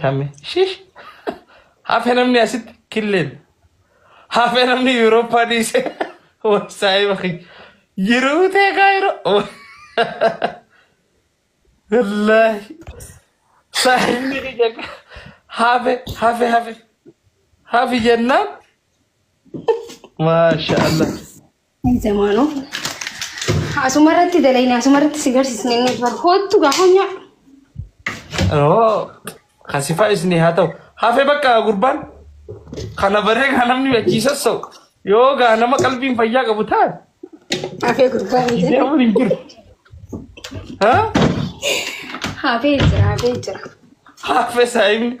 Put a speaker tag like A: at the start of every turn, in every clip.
A: Kame shish hafe namni asitti killeen hafe namni Yuurooppaa dhiise wasaa'ee bakki jiruu tee kaayiroo wallaahi saahibni kiyya hafe hafe hafe hafi jennaan maasha Allah.
B: Zamaanoo. Asuma irratti dalayne asuma irratti si garsiisne inni bar hoottu gaafa nyaadhu. Oo,
A: kasifaa isinii haa ta'u. Hafee bakka gurbaan kana baree kan namni achii sassa'u. Yoo gaa nama qalbiin fayyaa qabu ta'an Hafee
B: gurbaa hin jedhu. deemuun hin jiru.
A: Haa? Hafee jira
B: hafee jira. Hafee
A: saayimni.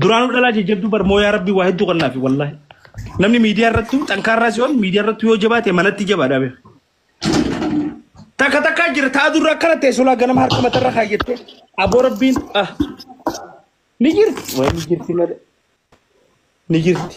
A: Duraanuu dhalaa jajjabduu bar mooyaa rabbii waa hedduu kannaafi wallaahi. Namni miidiyaa irratti xankaarraa si'oon miidiyaa irratti yoo jabaate manatti jabaadha beeku. Takka takkaa jira ta'a durra akkana ta'e sulaa ganama harka matarra kaayyattee aboo rabbiin ah ni jirti. Waa ni jirti malee ni jirti.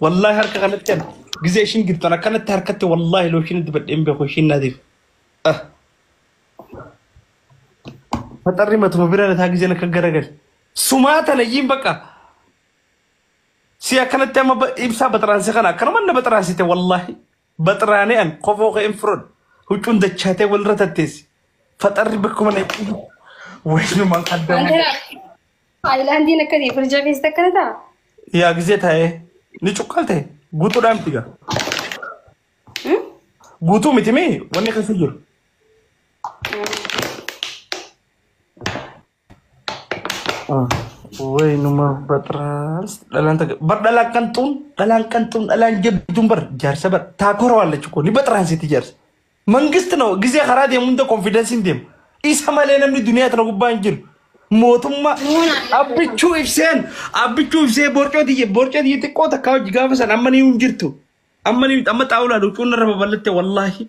A: Wallaahi harka kanatti ani gizee ishiin giftan akkanatti harkatti wallaahi looshiin dibadhee hin beeku ishiin naatiif. Ah, Faxarri matuma bira lataa gizeen akka garagale. Sumaa tana iyyiin baqa. Si akkanatti amma ba- ibsaa baxaraansi kana akkanuma na baxaraansite wallaahi. Baxraanee an kofoo kee hin fudhadhu. Huccuun dachaatee walirra tatteessi. Faxarri bakkuma na ciisu. Waynumaan adda Waan ta'eef Taayilaandiin
B: akkasii firjaa keessatti akkana ta'a. yaa gisee
A: taa'ee ni cuqqalte guutuudhaan miti gaa. Hmm? Guutuu miti mee wanni keessa jiru. Way numa batras dhalaan takka bar dhalaan qanxuun dhalaan qanxuun dhalaan jabduun bar jaarsa bar taakora waan lachuu koo ni batransiti jaarsa. Mangisti noo gisee karaa deemu hunda konfidensiin deema. Isa malee namni duniyaa tana gubbaa hin jiru. Mootummaa abbichuu ibseen abbichuu ibsee borcoo tiyya borcoo tiyya xiqqoo takkaa hojii gaafa san amma ni hin jirtu. Amma ni amma xaawulaa dhucuun irra babal'atte wallaahi.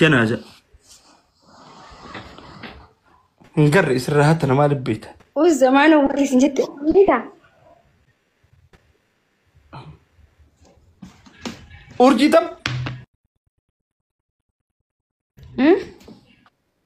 A: Janaaza. Hin garre isirraa hatta namaa libbeeta. Us zamaana warri
B: isin jette beekta.
A: Urjii tam. Hmm?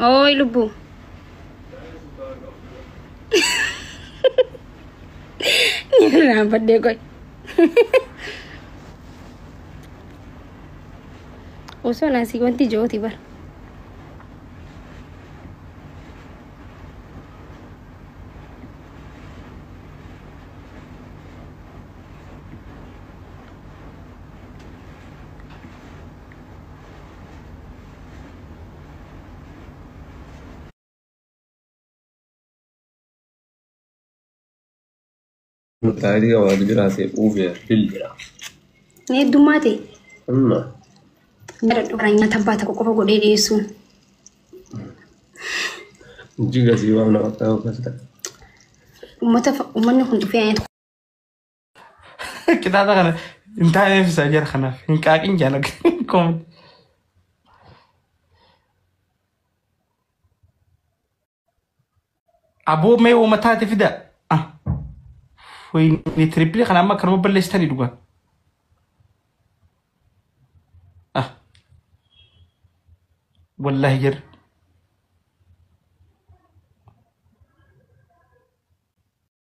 B: Ooy lubbuu. Irraan baddee qoy. Osoo naasii wanti ijooti bara.
C: Taayilii qaba wal biraa ta'e uufee bilbila. Ni
B: heddummaa ta'e. Amma Nyaadhu kana nyaata abbaa tokko qofa godhee dhiyeessuun.
C: jiga sii waan nama ta'u kas ta'e. Uummata fa- uummanni
B: kun dhufee nyaata
A: Qixaaxa kana hin taaneef isaa jara kanaaf hin qaaqin jaalaga. Aboo mee uuma taate fida. Ah, Wayne tirippilii kana amma akkanuma balleessitanii dhugaa. Ah, wallaahi jirra.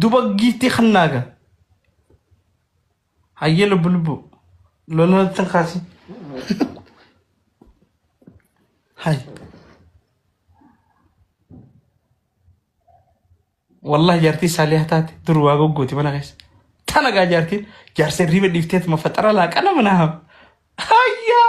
A: duba giiftii kannaaga hayyee lubbu lubbu loluma tan kaasi hay wallahi jaartii saaliyaa taate dur waa goggooti mana keessa tana gaa jaartiin jaarsa riiba dhiifteetuma faxara laaqana mana haam hayyaa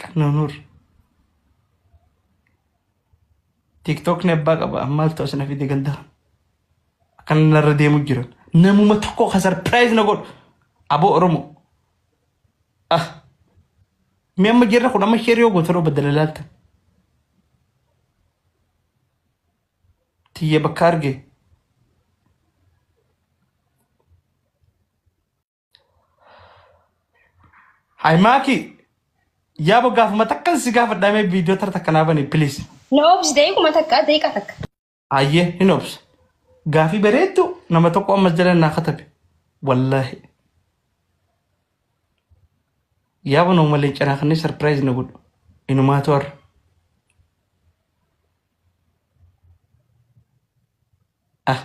A: Qannoo Nuur. Tiiktookni abbaa qaba maaltu as na fide galdaa. Akkana narra deemu jiran. Namuma tokko ka sarpiraayiz na godhu. Aboo Oromoo. Ah. Mi amma jirra kun amma sheerii yoo gootan obbo Dalalaalta. Tiyya bakka argee. Hay maaki yaa bo gaafuma takkan si gaafadhaamee viidiyoo tara takka naa bani piliis. Na obsi daqiiquma
B: takka daqiiqa takka. Hayyee hin
A: obsa. Gaafii bareeddu nama tokko ammas jala naa katabe. Wallaahi. Yaa bo nama malee canaa kanneen sarpiraayiz na godhu. Inumaa to'arra. Ah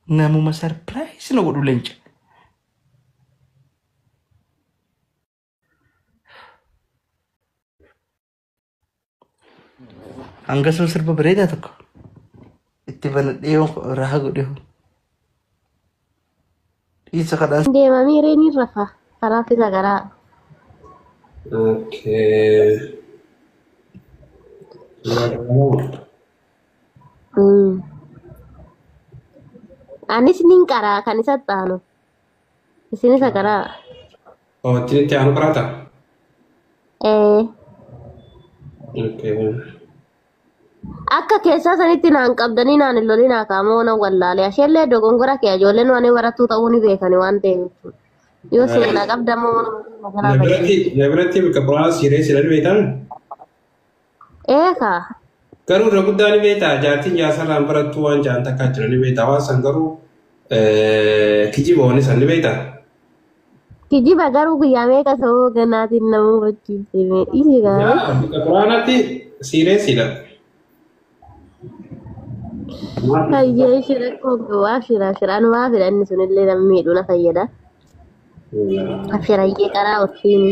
A: namuma surprise na godhu lenca. Hanga sun sirba bareedaa tokko itti banadhee yoo raha godhe hoo. Dhiisa kadhaa. Deema miiree ni rafa.
D: Kanaaf isa garaa.
C: Okay. Mm.
D: Anis nin qaraa kan isa xaanu. Isin isa garaa. Oh,
C: ittiin itti aanu qaraata? Ee. Okay.
D: Akka keessaa sanitti naan qabdanii naan hin lolinaa kaamoo nan wallaalee asheellee dogongora kee ijoolleen waan barattuu ta'uu ni beekani waan ta'eef jechuudha. Yoo si naan qabda immoo waan maganaa Na biratti na biratti
C: bakka bu'aa siiree silan beektan Eekaa.
D: garuu irra guddaa
C: ni beektaa jaartiin jaarsalaan barattuu waan jaan takkaa jira ni beektaa waan san garuu eh, kijiba waan san ni beektaa
D: Kijiba garuu guyyaa meeqa sababa ganaatiin nama hubachiifte mee dhiisi gaa'ee. Yaa quraanatti
C: siireessiidha.
D: Hayyee ishee rakkoo qabu abshira abshira anu maa fedha inni sunillee nama miidhuu na fayyada. Abshira hayyee karaa ofiini.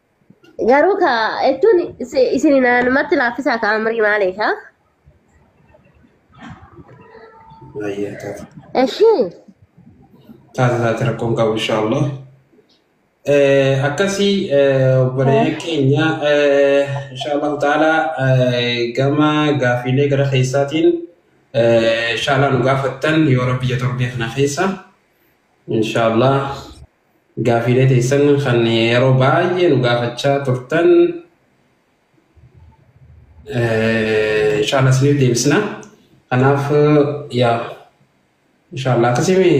D: Garuu ka jechuun isi- isin naannumatti laaffisaa ka amrii maaliif haa? Baay'ee taata. Eshii.
C: Taata taata rakkoon qabu inshaallah. Eh, Akkasii eh, obboleeyyan keenya eh, inshaallah taala eh, gama gaafiilee gara keessaatiin eh, inshaallah nu gaafattan yoo rabbi jatorbee kana keessa inshaallah Gaafiilee teessan kan yeroo baay'ee nu gaafachaa turtan inshallah isiniif deebisna. Kanaaf yaa inshallah akkasimi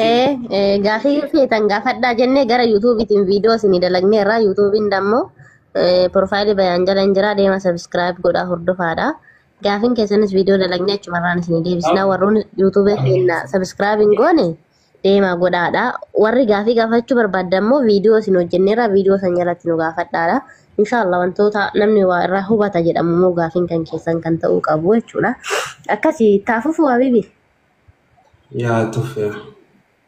D: Ee gaafii yoo feetan gaafadhaa jennee gara yuutuubiitiin viidiyoo isinii dalagneerra yuutuubiin dammoo piroofaayilii bayaan jala hin jira deema sabiskiraayib godhaa hordofaadha. Gaafin keessanis viidiyoo dalagnee achumarraan isin deebisna warroonni yuutuubee keenya sabiskiraayib hin goone deemaa godhaadha. Warri gaafii gaafachuu barbaadda immoo viidiyoo isin hojjenneerra viidiyoo san jalatti nu gaafadhaadha. Inshaallah wantoota namni waa irraa hubata jedhamu immoo gaafiin kan keessan kan ta'uu qabu jechuudha. Akkasi taafufu habibi.
C: yaa tuffee